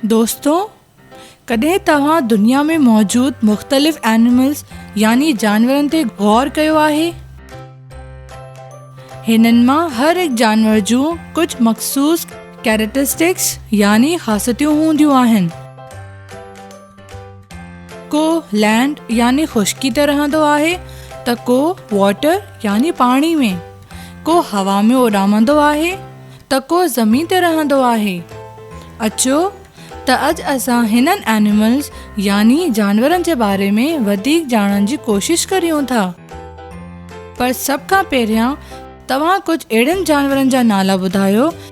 دوستو ڪڏهن توهان دنيا ۾ موجود مختلف اينيملز يعني جانورن تي غور ڪيو آهي هنن مان هر هڪ جانور جون ڪجهه مخصوص ڪيريٽرسٽڪس يعني خاصيتون هونديون آهن ڪو لينڊ يعني خشڪي تي رهندو آهي ته ڪو واٽر يعني پاڻي ۾ ڪو هوا ۾ اڏامندو آهي ته ڪو زمين تي رهندو آهي اچو ته اڄ اسان هنن اينيملز يعني جانورن جي باري ۾ وڌيڪ ڄاڻڻ جي ڪوشش ڪريون ٿا پر سڀ کان پهريان توهان ڪجهه اهڙن جانورن جا نالا ٻڌايو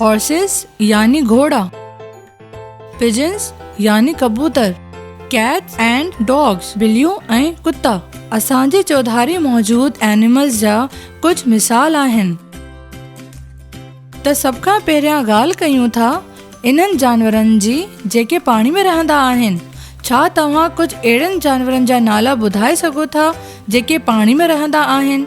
Horses يعني گهوڙا Pigeons يعني ڪبوتر Cats and Dogs بليون ۽ ڪتا اسان جي چوڌاري موجود Animals جا ڪجهه مثال آهن ته سڀ کان پهريان ڳالهه ڪيون ٿا انهن جانورن جي جيڪي پاڻي ۾ رهندا آهن ڇا توهان ڪجهه اهڙن جانورن جا نالا ٻڌائي سگهو ٿا جيڪي پاڻي ۾ رهندا آهن؟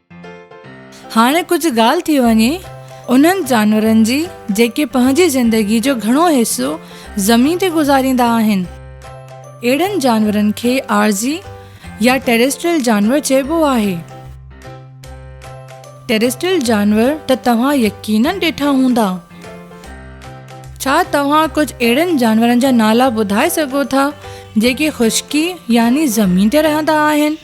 هاڻي ڪجهه ڳالهه ٿي وڃي انهن جانورن جي جيڪي پنهنجي زندگي جو گهڻو حصو زمين تي گذاريندا آهن. اهڙن جانورن کي عارضي يا ٽيريسٽريل جانور چئبو آهي. ٽيريسٽريل جانور ته توهان يقينن ڏٺا هوندا. ڇا توهان ڪجهه اهڙن جانورن جا نالا ٻڌائي سگهو ٿا جيڪي خشڪي يعني زمين تي رهندا آهن؟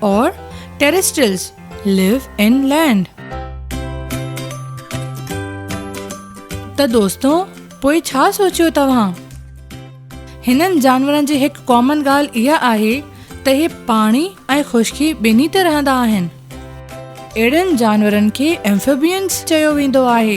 Or terrestrials live in land. ته دوستو پوء ڇا سوچيو توهان؟ هنن جانورن جي هڪ ڪامن ڳالهه اها آهي ته هي پاڻي ۽ خشڪي ٻنهي تي رهندا آهن. اهڙن جانورن کي Amphibians چيو ويندو آهي.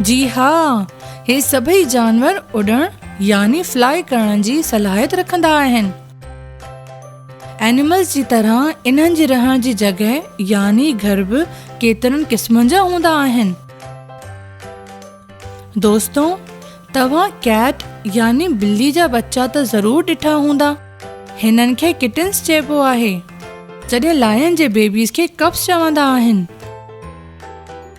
جي ها، هي سڀئي جانور اڏڻ يعني Fly ڪرڻ جي صلاحيت رکندا آهن. Animals جي طرح انهن جي رهڻ جي جڳهه يعني گهر به ڪيترن قسمن جا هوندا آهن. دوستو! توهان ڪيٽ يعني ٻلي جا ٻچا ته ضرور ڏٺا هوندا. هنن کي Kittens چئبو آهي. جڏهن Lion جي بيبيز کي Cubs چوندا آهن.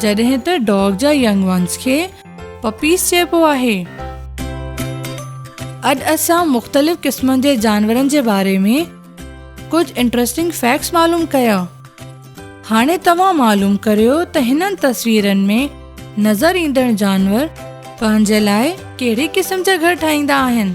جڏهن ته ڊاگ جا ينگ ونس کي پپيز چئبو آهي. اڄ اسان مختلف قسمن جي جانورن جي باري ۾ ڪجهه انٽرسٽنگ فيڪٽس معلوم ڪيا. هاڻي توهان معلوم ڪريو ته هنن تصويرن ۾ نظر ايندڙ جانور پنهنجي لاء ڪهڙي قسم جا گهر ٺاهيندا آهن.